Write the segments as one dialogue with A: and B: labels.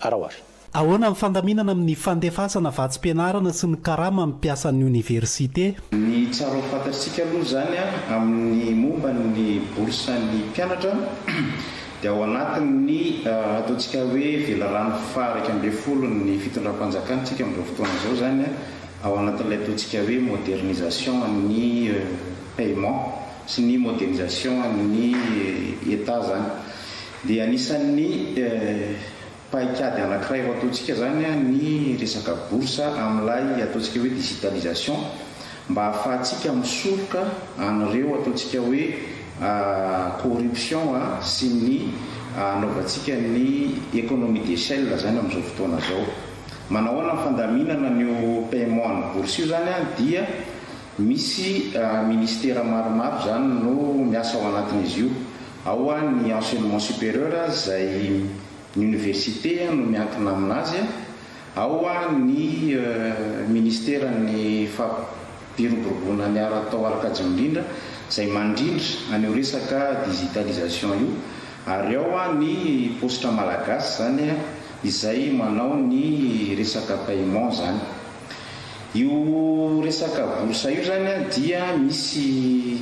A: Araho ary. Ahoana ny fandaminana
B: amin'ny fandefasana vatsim-pianarana sy ny karama amin'ny mpiasan'ny oniversite? Ny tsara ho
C: fantatritsika aloha izany amin'ny momba ny bourse-n'ny mpianatra dia ao anatin'ny ataontsika hoe velarano faha-iraika ambin'ny folon'ny fitondram-panjakana isika amin'izao fotoana izao izany, ao anatin'ilay ataontsika hoe modernisation an'ny paiement sy ny modernisation an'ny Etat izany. Dia anisan'ny paikady anankiray ho ataontsika izany ny resaka bourse amin'ilay ataontsika hoe digitalisation mba ahafahantsika misoroka an'ireo ataontsika hoe corruption sy ny anaovantsika ny economie d'échelle izany amin'izao fotoana izao. Manao ahoana ny fandaminana an'io paiement an'ny bourse io izany dia misy ministera maromaro izany no miasa ao anatin'izy io. Ao an ny enseignement supérieur aza izay ny université no miankina aminazy an, ao an ny ministeran ny fampiroboroboana ny ara atao ara kajinindrindra izay mandrindra an io resaka digitalisation io, ary ao an ny paositra malagasy izany an izay manao ny resaka paiement izany. Io resaka bourse io izany an dia misy.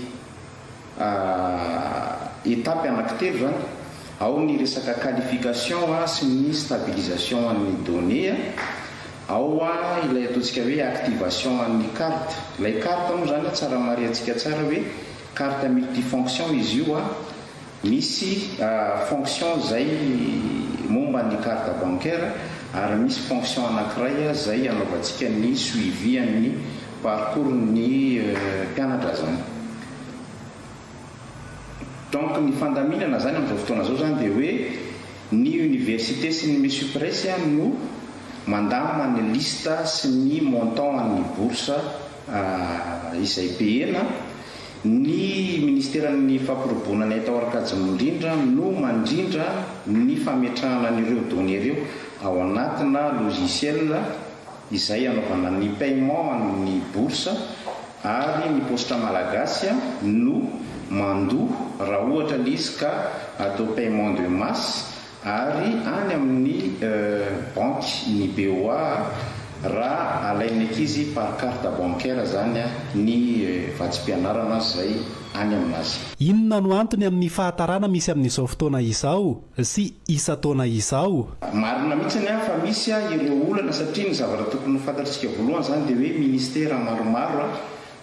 C: Etapy anaky telo izany, ao ny resaka qualification sy ny stabilisation an'ny données, ao ilay ataontsika hoe activation an'ny carte. Ilay carte moa izany tsara marihantsika tsara hoe carte multifonction izy io. Misy fonction izay momba ny carte bancaire ary misy fonction anakiray izay anaovantsika ny suivi an'ny parcours ny mpianatra zany. Donc ny fandaminana zany amin'izao fotoana izao zany dia hoe ny université sy ny mesupres no mandamina ny liste sy ny montant an'ny bourse izay payena Ny Ministeran'ny Fampirobonana eto Aorikajy Mirindra no mandrindra ny fametrahana an'ireo données ireo ao anatina logiciel izay anaovana ny paiement an'ny bourse ary ny paositra malagasy no mandoa raha ohatra ilay izy ka atao paiement de masse Ary any amin'ny banky ny BOA raha alain'ny ankizy par carte bancaire zany ny vatsim-pianarana zay any aminazy. Inona no antony
B: amin'ny fahatarana misy amin'izao fotoana izao sy isan-taona izao? Marina mihitsy ny
C: fa misy ireo olana satria ny zavatra tokony ho fantatr'isika voalohany izany dia hoe ministera maromaro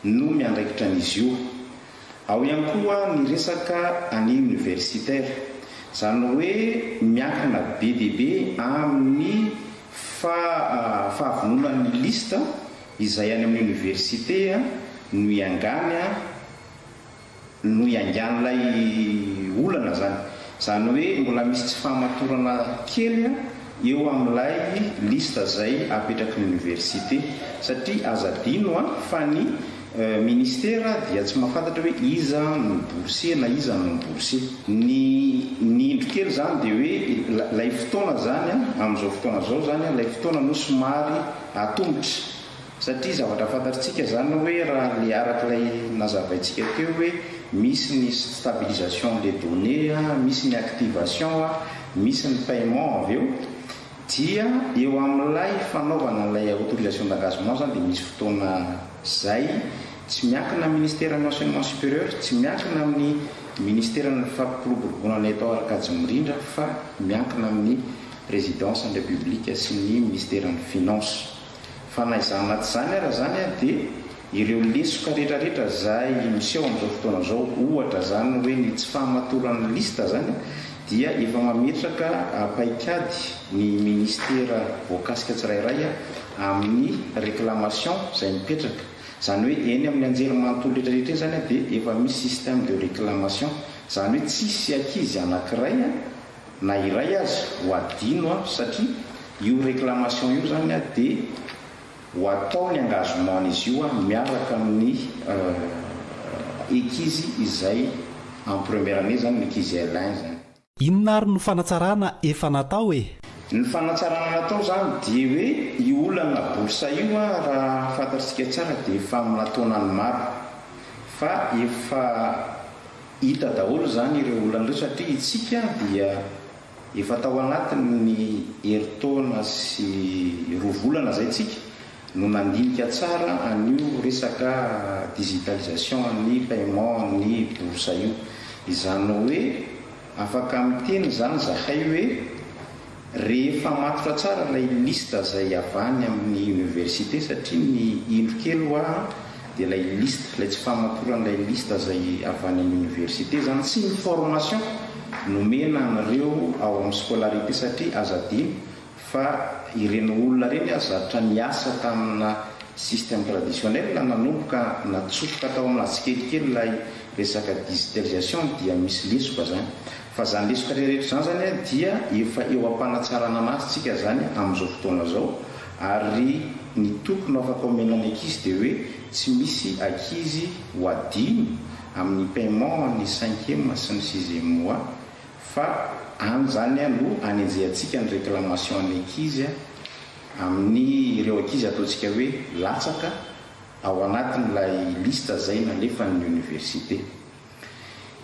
C: no miandraikitra an'izy io. Ao ihany koa ny resaka année universitaire, izany hoe miankina be dia be amin'ny faha fahavononan'ny liste izay any amin'ny oniversite no hiangany no hiangan'ilay olana izany. Izany hoe mbola misy tsy fahamatorana kely eo amin'ilay liste izay apetraky ny Oniversite satria aza adino an, fa ny Ministera dia tsy mahafantatra hoe iza no boursier na iza no non boursier. Ny ny indro kely izany dia hoe ilay fotoana izany an, amin'izao fotoana izao izany an, ilay fotoana aloha somary atomotra. Satria zavatra fantatritsika izany hoe raha ny araka ilay nazavaintsika teo hoe misy ny stabilisation des données a, misy ny activation a, misy ny paiement avy eo, dia eo amin'ilay fanaovana an'ilay autorisation d'engagement izany dia misy fotoana izay tsy miankina amin'ny Ministeran'ny Enseignement Supérieur, tsy miankina amin'ny Ministeran'ny Fampiroboroboana ny Atao Arkady Mirindra fa miankina amin'ny Présidence-n'ny République sy ny Ministeran'ny Finances. Fa na izany na tsy izany ara izany dia ireo lesoka retraretra izay miseho amin'izao fotoana izao, ohatra izany hoe ny tsy fahamatoran'ny liste izany dia efa mametraka paikady ny ministera voakasika tsirairay amin'ny reclamation izay mipetraka. Izany hoe eny amin'ny anjerimanontolo retraretra eny izany dia efa misy système de reclamation. Izany hoe tsisy ankizy anankiray. na iray aza ho adino a satria io reclamation io zany a de ho atao ny engagement n'izy io a miaraka amin'ny ekizy izay en première année zany ekizy L un zany. Inona ary no
B: fanatsarana efa natao e? Ny fanatsarana
C: natao zany dia hoe io olana bourse io a raha fantatr'tsika tsara dia efa amina taonany maro fa efa Hita daholo izany ireo olana ireo satria itsika dia efa tao anatin'ny herintaona sy roa volana izay tsika no nandinika tsara an'io resaka digitalisation an'ny paiement an'ny bourse io. Izany hoe afaka miteny izany zahay hoe. Rehefa matotra tsara ilay liste izay avy any amin'ny université satria ny indro kely hoa dia ilay liste, ilay tsy fahamatoran'ilay liste izay avy any amin'ny université izany sy ny formation nomena anareo ao amin'ny scolarité satria aza adino fa ireny olona ireny aza zatra niasa tamina système traditionnel nanomboka natsofoka tao amina tsikelikely ilay resaka digitalisation dia misy lesoka izany. Fa zany lesoka reheretra zany zany a dia efa eo ampanatsarana anazy tsika zany amizao fotoana zao ary ny tokony ho afaka omena ny ankizy dia hoe tsy misy akizy ho adino aminy paiement an'ny cinquième sy ny sixième mois fa any zany a no anenjehantsika ny reclamation an'ny ankizy a aminy ireo ankizy ataontsika hoe latsaka ao anatin'ilay liste zay nalefan'ny université.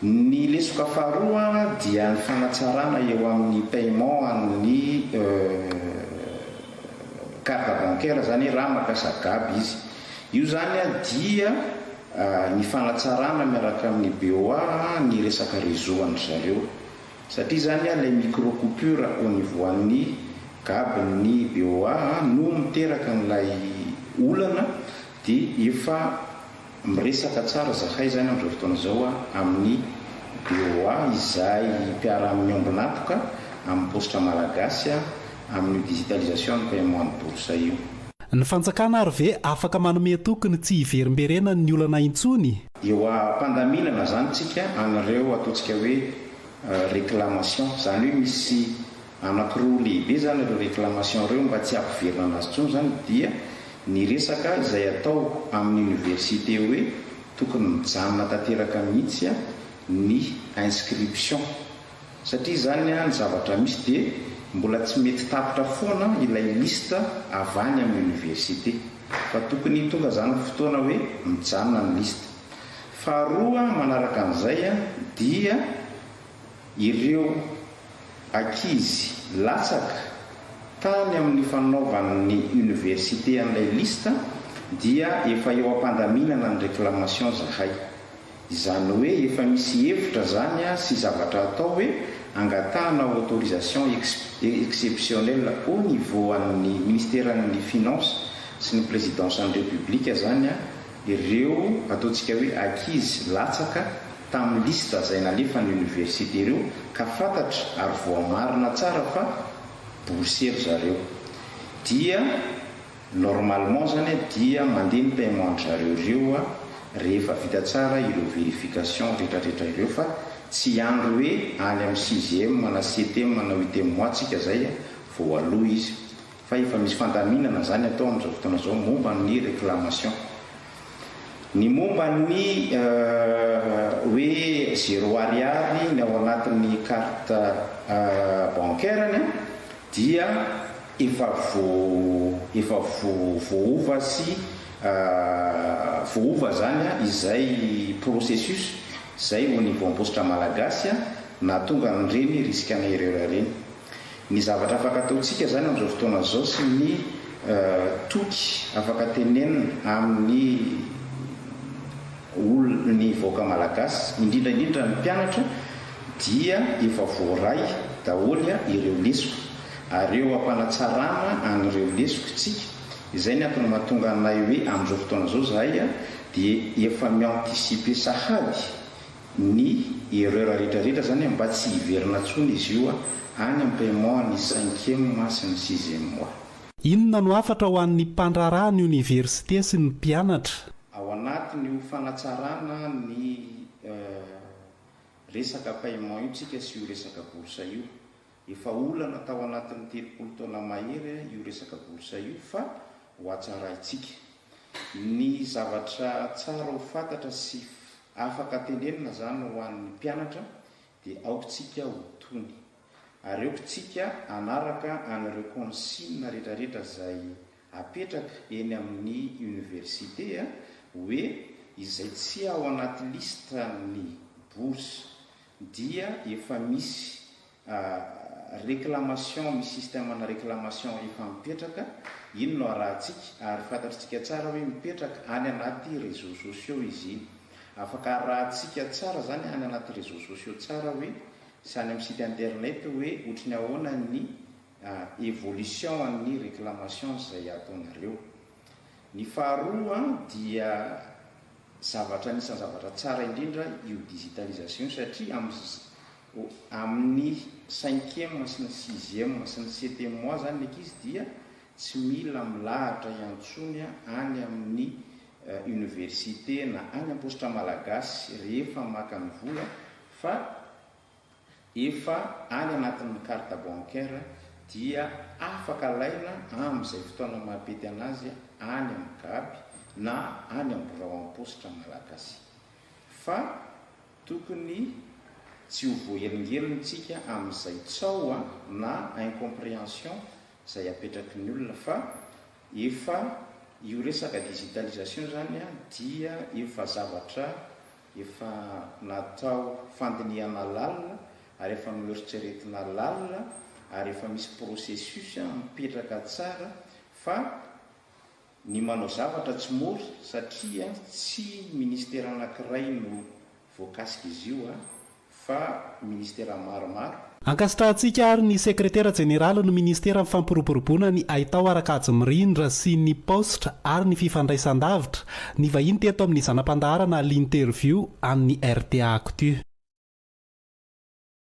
C: Ny lesoka faharoa dia ny fanatsarana eo amin'ny paiement amin'ny carte bancaire zany raha mampiasa gab izy. Io zany dia ny fanatsarana miaraka amin'ny BOA ny resaka réseau an-dry zareo. Satria zany ilay micro coupure au niveau an'ny gab ny BOA no miteraka an'ilay olana dia efa Miresaka tsara zahay izany amin'izao fotoana izao amin'ny BOA izay mpiara-miombon'antoka amin'ny paositra malagasy amin'io digitalisation ny paiement ny bourse io. Ny fanjakana
B: ary ve afaka manome toky ny tsy hiverimberenany ny olana intsony? Eo am-pandaminana
C: izany tsika an'ireo ataontsika hoe reclamation, izany hoe misy Anakiroa lehibe izany ireo reclamation ireo mba tsy hampiverina azy intsony izany dia ny resaka izay atao amin'ny université hoe tokony mijanona tanteraka mihitsy ny inscription satria izany ny zavatra misy dia mbola tsy mety tapitra foana ilay liste avy any amin'ny université fa tokony tonga izany fotoana hoe mijanona ny liste faharoa manaraka an'izay dia Ireo ankizy latsaka tany amin'ny fanaovany ny université an'ilay liste dia efa eo am-pandaminana ny réclamation zahay. Izany hoe efa misy hevitra zany sy zavatra atao hoe angatahana autorisation exceptionnelle au niveau an'ny Ministeran'ny Finances sy ny Présidence-n'ny République zany Ireo ataontsika hoe ankizy latsaka tamin'ny liste izay nalefan'ny oniversite ireo ka fantatra ary voamarina tsara fa boursier ry zareo dia normalement izany dia mandeha ny paiement-dry zareo ireo rehefa vita tsara ireo verification retraretra ireo fa tsy hiandry hoe any amin'ny sixième na septième na huitième mois tsika izay vao aloa izy fa efa misy fandaminana izany atao amin'izao fotoana izao momba ny réclamation. Ny momba ny hoe zéro ariary ny ao anatin'ny carte bancaire-ny dia efa efa voaova sy voaova izany izay processus izay au niveau am-paositra malagasy nahatonga an'ireny risque-na ireo ireny. Ny zavatra afaka ataontsika izany amin'izao fotoana izao sy ny toky afaka tenenina amin'ny olona, ny vahoaka malagasy, indrindra indrindra ny mpianatra dia efa voaray daholo ireo lesoka ary eo am-panatsarana an'ireo lesoka isika. Izay ny antony mahatonga anay hoe amin'izao fotoana izao izahay dia efa mi-anticiper sahady ny erreur retraretra izany mba tsy hiverina tsony izy io any am paiement an'ny cinquième mois sy ny sixième mois. Inona no hafatra
B: ho an'ny mpandraharaha ny oniversite sy ny mpianatra? Ao anatin'io
C: fanatsarana ny resaka paiement io tsika sy io resaka bourse io. Efa olana tao anatin'ny telopolo taona mahery io resaka bourse io fa ho hatsaraintsika. Ny zavatra tsara ho fantatra sy afaka tenenina izany ho an'ny mpianatra dia aoka isika ho tony. Ary aoka isika hanaraka an'ireo consignes rehetrarehetra izay apetraka eny amin'ny université hoe izay tsy ao anaty liste ny bourse dia efa misy A, Réclamation, misy système ana réclamation efa mipetraka, iny no arahantsika, ary fantatritsika tsara hoe mipetraka any anaty réseaux sociaux izy iny. Afaka arahantsika tsara izany any anaty réseaux sociaux tsara hoe, sy any amin'ny site internet hoe ohatry ny ahoana ny a, évolution an'ny réclamations izay ataonareo. Ny faharoa dia zavatra anisan'ny zavatra tsara indrindra io digitalisation io satria amin'ny Ho amin'ny cinquième sy ny sixième sy ny septième mois izany ny ankizy dia tsy mila milahatra iantsony any amin'ny université na any am-paositra malagasy rehefa maka ny vola fa efa any anatin'ny carte bancaire dia afaka alaina amin'izay fotoana maha-pety an'azy any amin'ny gaby na any amin'ny birao am-paositra malagasy fa Tokony tsy ho voahelingelina tsika amin'izay tsaho a na incomprehension izay apetraky ny olona fa efa io resaka digitalisation izany a dia efa zavatra efa natao fandinihana lalina ary efa noeritreretina lalina ary efa misy processus a mipetraka tsara fa ny manao zavatra tsy mora satria tsy ministera anankiray no voakasika izy io fa ministera maromaro. Ankasitrahantsika
B: ary ny sekretera jeneralin'ny ministeran'ny fampiroboroboana ny haitao ara-kajy mirindra sy ny paositra ary ny fifandraisan-davitra nivahiny teto amin'ny zana-pandaharana L'Interview an'ny rta Actu.